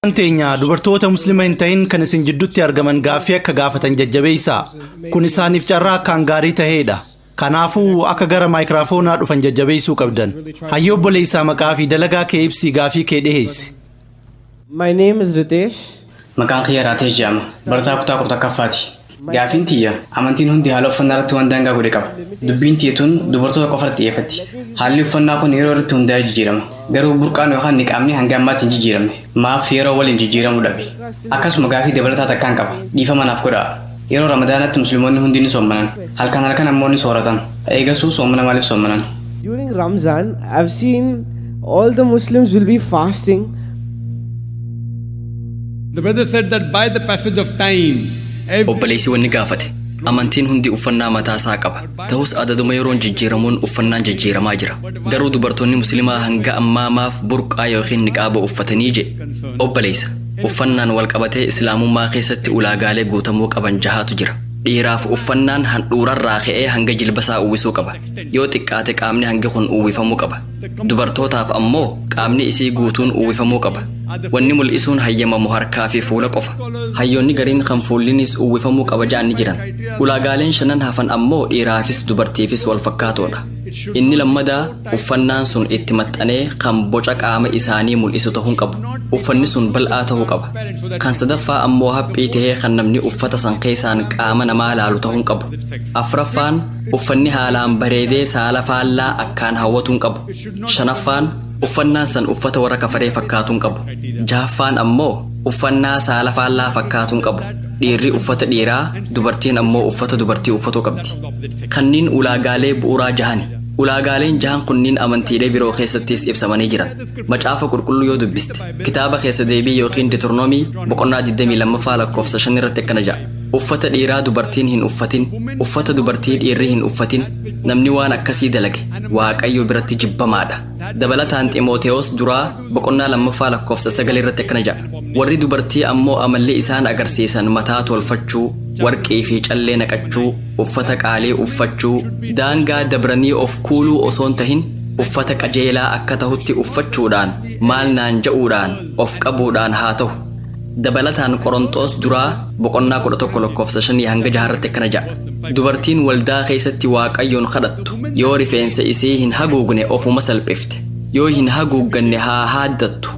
Kan teenya dubartoota muslima hin ta'in kan isin jiddutti argaman gaaffii akka gaafatan jajjabeessa. Kun isaaniif carraa akkaan gaarii ta'eedha. Kanaafuu akka gara maayikiraafoonaa dhufan jajjabeessuu qabdan. Hayyoo obboleessaa maqaa fi dalagaa kee ibsii gaafii kee dhiheessi. My name is Ritesh. Maqaan kiyya Raateesh jedhama. Barataa kutaa kudha tokkaffaati. Gaafiin tiyya, amantiin hundi haala uffannaa irratti waan daangaa godhe qaba. Dubbiin tiyya tun dubartoota qofa irratti xiyyeeffatti. Haalli uffannaa kun yeroo irratti hundaa'ee jijjiirama. Garuu burqaan yookaan niqaabni hanga ammaatti hin jijjiiramne. Maaf yeroo waliin jijjiiramuu dhabe? Akkasuma gaafii dabalataa takkaan qaba. Dhiifama naaf godhaa. Yeroo Ramadaanaatti Muslimoonni hundi ni soommanan. Halkan halkan ammoo ni sooratan. Eegasuu soomana maaliif soommanan? During Ramzan, I've seen all the Muslims will be fasting The brother said that by the passage of time, every obboleessi wanni gaafate amantiin hundi uffannaa mataa isaa qaba ta'us adaduma yeroon jijjiiramuun uffannaan jijjiiramaa jira garuu dubartoonni muslimaa hanga ammaa maaf burqaa yookiin niqaaba uffatanii jedhe obboleessa uffannaan wal qabatee islaamummaa keessatti ulaagaalee guutamuu qaban jahaatu jira dhiiraaf uffannaan handhuurarraa ka'ee hanga jilbasaa uwwisuu qaba yoo xiqqaate qaamni hangi kun uwwifamuu qaba Dubartootaaf ammoo qaamni isii guutuun uwwifamuu qaba. Wanni mul'isuun hayyamamu harkaa fi fuula qofa. Hayyoonni gariin kan fuullinis uwwifamuu qaba ja'an ni jiran. Ulaagaaleen shanan hafan ammoo dhiiraafis dubartiifis wal fakkaatoodha. Inni lammadaa uffannaan sun itti maxxanee kan boca qaama isaanii mul'isu ta'uu hin qabu. Uffanni sun bal'aa ta'uu qaba. Kan sadaffaa ammoo haphii ta'ee kan namni uffata san keessaan qaama namaa laalu ta'uu hin qabu. Afraffaan Uffanni haalaan bareedee saala faallaa akkaan hawwatu hin qabu. Shanaffaan, uffannaan san uffata warra kafaree fakkaatu hin qabu. Jahaffaan ammoo uffannaa saala faallaa fakkaatu hin qabu. Dhiirri uffata dhiiraa, dubartiin ammoo uffata dubartii uffatuu qabdi. Kanniin ulaagaalee bu'uuraa jahani. Ulaagaaleen jahan kunniin amantiilee biroo keessattis ibsamanii jiran. Macaafa qulqulluu yoo dubbiste, kitaaba keessa deebii yookiin Diturnoomii boqonnaa 22ffaa lakkoofsa 5 irratti akkana ja'a. Uffata dhiiraa dubartiin hin uffatin, uffata dubartii dhiirri hin uffatin, namni waan akkasii dalage Waaqayyo biratti jibbamaa dha. Dabalataan Ximootewoos duraa boqonnaa lammaffaa lakkoofsa sagal irratti akkana jedha, Warri dubartii ammoo amalli isaan agarsiisan mataa tolfachuu, warqii fi callee naqachuu, uffata qaalii uffachuu, daangaa dabranii of kuuluu osoo hin tahin uffata qajeelaa akka tahutti uffachuudhaan, maal naan ja'uudhaan, of qabuudhaan haa tahu. Dabalataan Qoronxoos duraa boqonnaa 11 lakkoofsa 5 hanga 6 irratti akkana jedha. Dubartiin waldaa keessatti Waaqayyoon kadhattu yoo rifeensa isii hin haguugne ofuma salphifte. Yoo hin haguugganne haa haaddattu.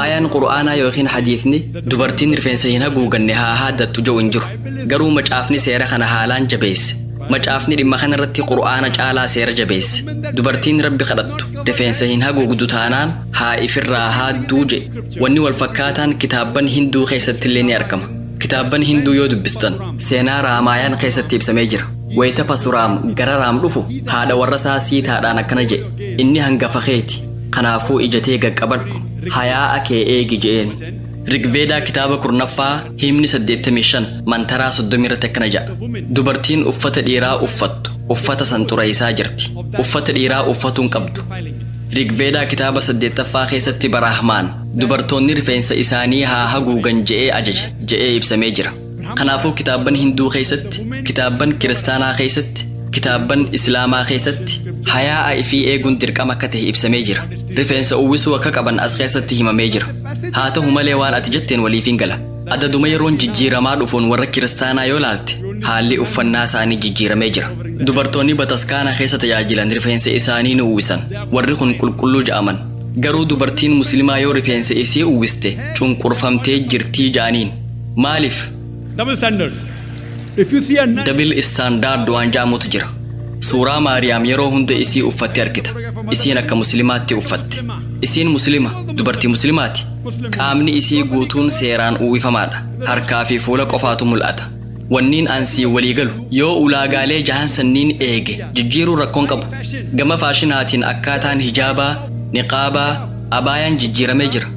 Aayaan Qur'aanaa yookiin hadiifni dubartiin rifeensa hin haguuganne haa haaddattu jedhu hin jiru. Garuu macaafni seera kana haalaan jabeesse. Macaafni dhimma kana irratti Qur'aana caalaa seera jabeesse. Dubartiin Rabbi kadhattu rifeensa hin haguugdu taanaan haa ifirraa haadduu jedhe. Wanni wal fakkaataan kitaabban Hinduu keessattillee ni argama. Kitaabban Hinduu yoo dubbistan seenaa Raamaayaan keessatti ibsamee jira. Wayita Pasuraam gara Raam dhufu haadha warrasaa Siitaadhaan akkana jedhe inni hangafa keeti. Kanaafuu ija tee gaqqabadhu hayaa'a kee eegi je'een. Rigveedaa kitaaba kurnaffaa himni 85 mantaraa 30 irratti akkana jedha. Dubartiin uffata dhiiraa uffattu uffata san xureessaa jirti. Uffata dhiiraa uffatuun qabdu. Rigveedaa kitaaba saddeettaffaa keessatti Baraahmaan dubartoonni rifeensa isaanii haa haguugan je'ee ajaje je'ee ibsamee jira. Kanaafuu kitaabban Hinduu keessatti, kitaabban Kiristaanaa keessatti, kitaabban Islaamaa keessatti hayaa'a ifii eeguun dirqama akka ta'e ibsamee jira. Rifeensa uwwisuu akka qaban as keessatti himamee jira. Haa ta'u malee waan ati jetteen waliifin gala. Adaduma yeroon jijjiiramaa dhufuun warra kiristaanaa yoo laalte haalli uffannaa isaanii jijjiiramee jira. Dubartoonni bataskaana keessa tajaajilan rifeensa isaanii ni uwwisan. Warri kun qulqulluu ja'aman. Garuu dubartiin muslimaa yoo rifeensa isii uwwiste cunqurfamtee jirtii ja'aniin. Maaliif? Double standards. If you see a nun, Dabil istaandaard waan ja'amutu jira. Suuraa Maariyaam yeroo hunda isii uffatte argita. Isiin akka muslimaatti uffatte. Isiin muslima, dubartii muslimaati. Qaamni isii guutuun seeraan uwwifamaadha. Harkaa fi fuula qofaatu mul'ata. Wanniin an sii walii galu yoo ulaagaalee jahan sanniin eege jijjiiruun rakkoon qabu. Gama faashinaatiin akkaataan hijaabaa, niqaabaa, abaayaan jijjiiramee jira.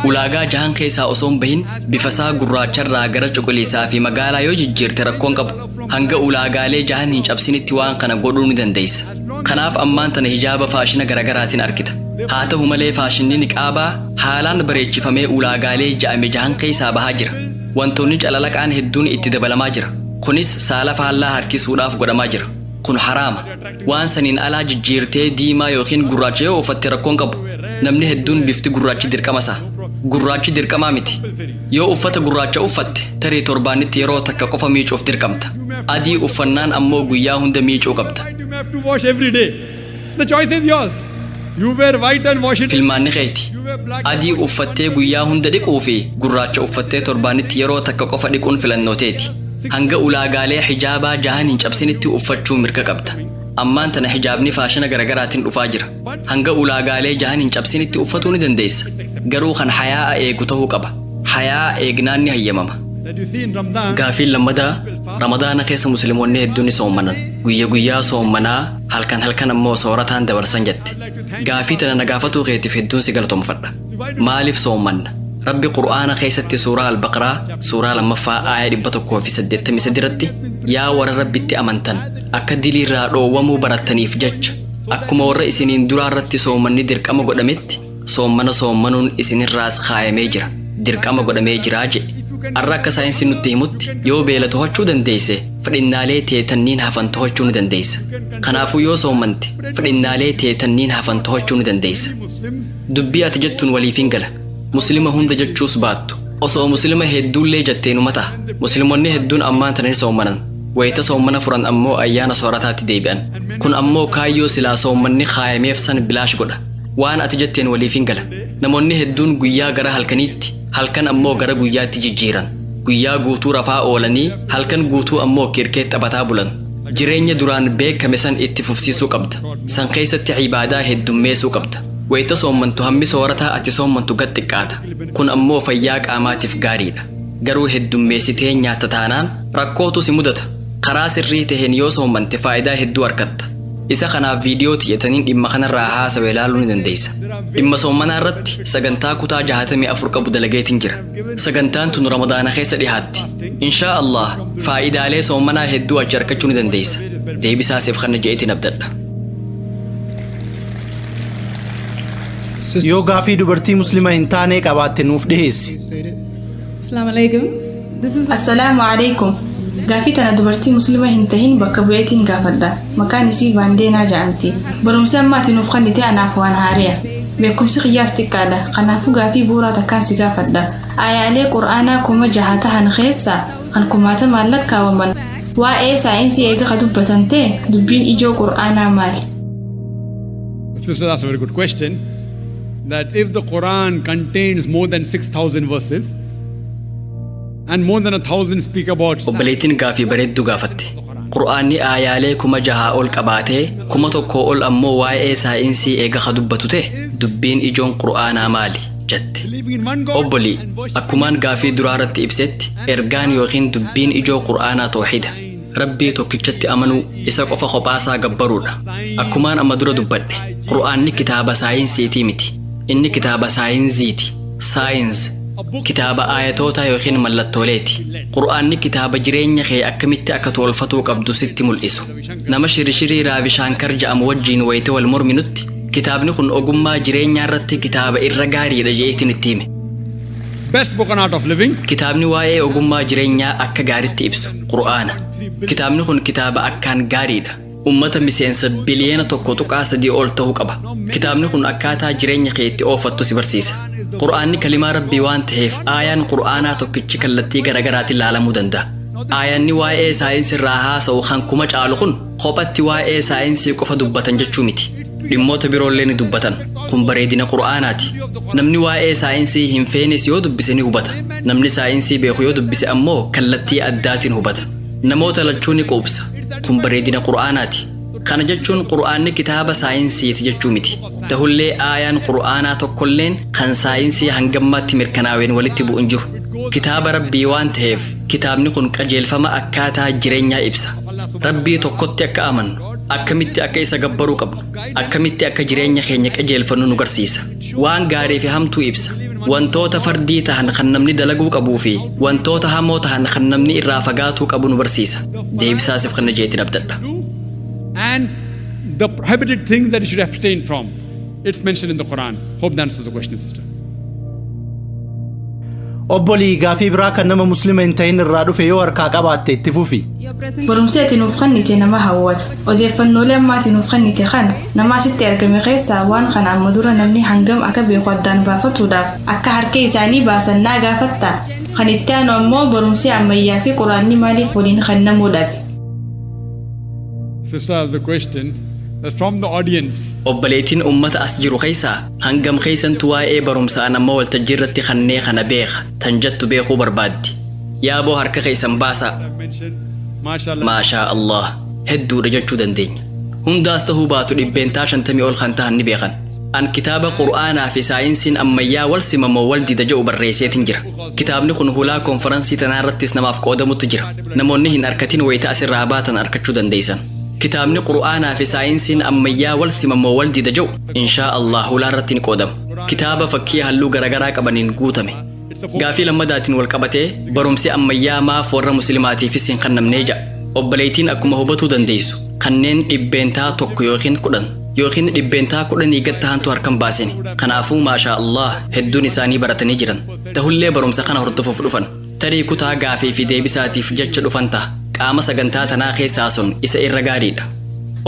Ulaagaa jahan keessaa osoo hin bahin bifasaa gurraacharraa gara cuquliisaa fi magaalaa yoo jijjiirte rakkoon qabu. Hanga ulaagaalee jahan hin cabsinitti waan kana godhuu ni dandeessa. Kanaaf ammaan tana hijaaba faashina garagaraatiin argita. Haa ta'u malee faashinni niqaabaa haalaan bareechifamee ulaagaalee ja'ame jahan keessaa bahaa jira. Wantoonni calalaqaan hedduun itti dabalamaa jira. Kunis saala faallaa harkisuudhaaf godhamaa jira. Kun haraama. Waan saniin alaa jijjiirtee diimaa yookiin gurraacha yoo uffatte rakkoon qabu. Namni hedduun bifti gurraachi dirqama isaa. Gurraachi dirqamaa miti. Yoo uffata gurraacha uffatte tarii torbaanitti yeroo takka qofa miicuuf dirqamta. adii uffannaan ammoo guyyaa hunda miicuu qabda. White you may have to wash every day. The choice is yours. You wear white and wash it. Filmaanni keeti. You wear black and Adii wash it. uffattee guyyaa hunda dhiquu fi gurraacha uffattee torbaanitti yeroo takka qofa dhiquun filannoo teeti. Hanga ulaagaalee hijaabaa jahan hin cabsinitti uffachuu mirga qabda. Ammaan tana hijaabni faashina garagaraatiin dhufaa jira. Hanga ulaagaalee jahan hin cabsinitti uffatuu ni dandeessa. Garuu kan hayaa'a eegu ta'uu qaba. Hayaa'a eegnaan ni hayyamama. Gaafiin lammadaa Ramadaana keessa musliimonni hedduun ni soommanan. Guyya guyyaa soommanaa halkan halkan ammoo soorataan dabarsan jette. Gaafii tana na gaafatuu keetiif hedduun si galatoomfadha. Maaliif soommanna? Rabbi Qur'aana keessatti suuraa Al-Baqraa suuraa lammaffaa aaya 183 irratti yaa warra Rabbitti amantan akka diliirraa dhoowwamuu barattaniif jecha Akkuma warra isiniin duraa irratti soomanni dirqama godhametti soomana soomanuun isinirraas kaayamee jira dirqama godhamee jiraa jedhe har'a akka saayinsi nutti himutti yoo beela tohachuu dandeesse fedhinnaalee tee tanniin hafan tohachuu ni dandeessa kanaafuu yoo soomante fedhinnaalee tee tanniin hafan tohachuu ni dandeessa dubbii ati jettuun waliifin gala muslima hunda jechuus baattu osoo muslima hedduullee jetteenu mata muslimonni hedduun ammaan tana ni soomanan Wayita soommana furan ammoo ayyaana soorataatti deebi'an. Kun ammoo kaayyoo silaa soommanni kaayameef san bilaash godha. Waan ati jetteen waliif hin gala. Namoonni hedduun guyyaa gara halkaniitti, halkan ammoo gara guyyaatti jijjiiran. Guyyaa guutuu rafaa oolanii, halkan guutuu ammoo kirkee taphataa bulan. Jireenya duraan beekame san itti fufsiisuu qabda. San keessatti ibaadaa heddummeessuu qabda. Wayita soommantu hammi soorataa ati soommantu gad xiqqaata. Kun ammoo fayyaa qaamaatiif gaariidha. Garuu heddummeessitee nyaatta taanaan Rakkootu si mudata. Karaa sirrii taheen yoo soommante faayidaa hedduu argatta. Isa kanaaf viidiyoo tiyya taniin dhimma kanarraa haasawe ilaaluu ni dandeessa. Dhimma soommanaa irratti sagantaa kutaa 64 qabu dalageetiin jira. Sagantaan tun Ramadaana keessa dhihaatti. Inshaa Allah faayidaalee soommanaa hedduu achi argachuu ni dandeessa. Deebisaa siif kanna je'eetiin abdadha. Yoo gaafii dubartii muslima hin taanee qabaatte nuuf dhiheessi. Assalamu alaikum. Assalaamu alaikum. Gaafii tana dubartii muslima hin tahin bakka bu'eetiin gaafadha. Maqaan isii Vaandeenaa ja'amti. Barumsi amma ati nuuf kennite anaaf waan haareya. Beekumsi kiyyaas xiqqaadha. Kanaafuu gaafii bu'uuraa takkaan si gaafadha. Aayaalee Qur'aanaa kuma jaha tahan keessaa kan kumaatamaan lakkaawaman waa'ee saayinsii eega ka dubbatan ta'e dubbiin ijoo Qur'aanaa maali? This is that's a very good question. That if the Quran contains more than 6,000 verses, And more than a thousand speak about obboleettiin gaafii bareedduu gaafatte qur'aanni aayaalee kuma jahaa ol qabaatee kuma tokkoo ol ammoo waa'ee saayinsii eega ka dubbatu ta'e dubbiin ijoon qur'aanaa maali jette believing in one God obbolii and worshiping akkumaan gaafii duraa irratti ibsetti ergaan yookiin dubbiin ijoo qur'aanaa tooxida Rabbii tokkichatti amanuu isa qofa kophaasaa gabbaruudha. Akkumaan amma dura dubbadhe, Qur'aanni kitaaba saayinsiitii miti. Inni kitaaba saayinziiti. Saayinz. Kitaaba aayatootaa yookiin mallattooleeti. Qur'aanni kitaaba jireenya kee akkamitti akka toolfatuu qabdu sitti mul'isu. Nama shirishirii Raavishaankar ja'amu wajjiin wayita wal morminutti, kitaabni kun ogummaa jireenyaa irratti kitaaba irra gaariidha je'eetiin itti hime. best book on art of living. Kitaabni waa'ee ogummaa jireenyaa akka gaaritti ibsu. Qur'aana. Kitaabni kun kitaaba akkaan gaariidha. Ummata miseensa biliyeena tokko tuqaa sadii ol ta'u qaba. Kitaabni kun akkaataa jireenya kee itti oofattu si barsiisa. Qur'aanni kalimaa rabbii waan ta'eef aayaan qur'aanaa tokkichi kallattii garaagaraatiin laalamuu danda'a. Aayaanni waa'ee saayinsii irraa haasa'u kan kuma caalu kun Kophatti waa'ee saayinsii qofa dubbatan jechuu miti. Dhimmoota biroollee ni dubbatan. Kun bareedina Qur'aanaati. Namni waa'ee saayinsii hin feenes yoo dubbise ni hubata. Namni saayinsii beeku yoo dubbise ammoo kallattii addaatiin hubata. Namoota lachuu ni quubsa. Kun bareedina Qur'aanaati. Kana jechuun Qur'aanni kitaaba saayinsiiti jechuu miti. Tahullee aayaan Qur'aanaa tokkolleen kan saayinsii hangammaatti mirkanaaween walitti bu'u hin jiru. Kitaaba Rabbii waan taheef kitaabni kun qajeelfama akkaataa jireenyaa ibsa. Rabbii tokkotti akka amannu, akkamitti akka isa gabbaruu qabnu, akkamitti akka jireenya keenya qajeelfannu nu garsiisa. Waan gaarii fi hamtuu ibsa. Wantoota fardii tahan kan namni dalaguu qabuu fi wantoota hamoo tahan kan namni irraa fagaatuu qabu nu barsiisa. Deebisaa siif kenna jeetiin abdadha. and the prohibited things that you should abstain from. It's mentioned in the Quran. Hope that answers the question, sister. Obbolii gaafii biraa kan nama muslima hin ta'in irraa dhufe yoo harkaa qabaatte itti fufi. Barumsi ati nuuf kennite nama hawwata. Odeeffannoolee amma ati nuuf kennite kan nama asitti argame keessaa waan kana amma dura namni hangam akka beeku addaan baafatuudhaaf akka harka isaanii baasan naa gaafatta. Kan itti aanu ammoo barumsi ammayyaa fi quraanni maaliif waliin kennamuu dhabe. Sister has a question that from the audience. Obboleettiin ummata as jiru keessaa hangam keessantu waa'ee barumsaa nama waltajjii irratti kannee kana beeka tan jettu beekuu barbaaddi. Yaaboo harka keessan baasaa. I've mentioned, mashallah. Maashaa Allah hedduudha jechuu dandeenya. Hundaas ta'uu baatu dhibbeentaa shantamii ol kan tahan ni beekan. An kitaaba Qur'aanaa fi saayinsiin ammayyaa wal simamoo wal dida jedhu barreesseetin jira. Kitaabni kun hulaa konfaransii tanaa irrattis namaaf qoodamutti jira. Namoonni hin arkatin wayita as irraa baatan arkachuu dandeeysan. Kitaabni Qur'aanaa fi Saayinsiin ammayyaa wal sima moo wal dida ja'u inshaa Allaah hulaa irratti ni qoodama. Kitaaba fakkii halluu garagaraa qabaniin guutame. Gaafii lammadaatiin wal qabatee barumsi ammayyaa maaf warra muslimaatiifis hin kannamnee ja'a. Obboleeytiin akkuma hubatuu dandeeysu kanneen 1% ykn 10. yookiin dhibbeentaa kudhanii gad tahantu harkan baasine kanaafuu maashaa allah hedduun isaanii baratanii jiran tahullee barumsa kana hordofuuf dhufan tarii kutaa gaafii fi deebisaatiif jecha dhufan taha qaama sagantaa tanaa keessaa sun isa irra gaariidha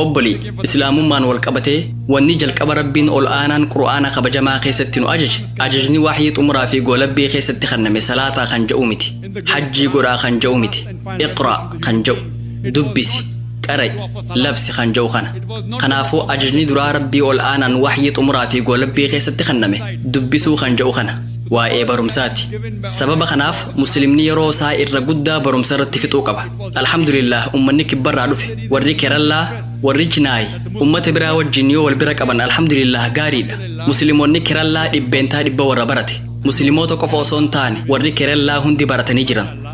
obbolii islaamummaan wal qabatee wanni jalqaba rabbiin ol aanaan qur'aana kabajamaa keessatti nu ajaje ajajni wahyii xumuraa fi goolabbii keessatti kenname salaataa kan ja'u miti hajjii godhaa kan ja'u miti iqra kan ja'u dubbisi qara'i labsi kan ja'u kana kanaafuu ajajni duraa rabbii ol aanaan waxyii xumuraa fi goolabbii keessatti kenname dubbisuu kan ja'u kana waa'ee barumsaati sababa kanaaf muslimni yeroo isaa irra guddaa barumsa irratti fixuu qaba alhamdulillah ummanni kibbarraa dhufe warri kerallaa warri chinaayi ummata biraa wajjin yoo wal bira qaban alhamdulillah gaariidha muslimonni kerallaa dhibbeentaa dhibba warra barate muslimoota qofa osoo hin taane warri kerallaa hundi baratanii jiran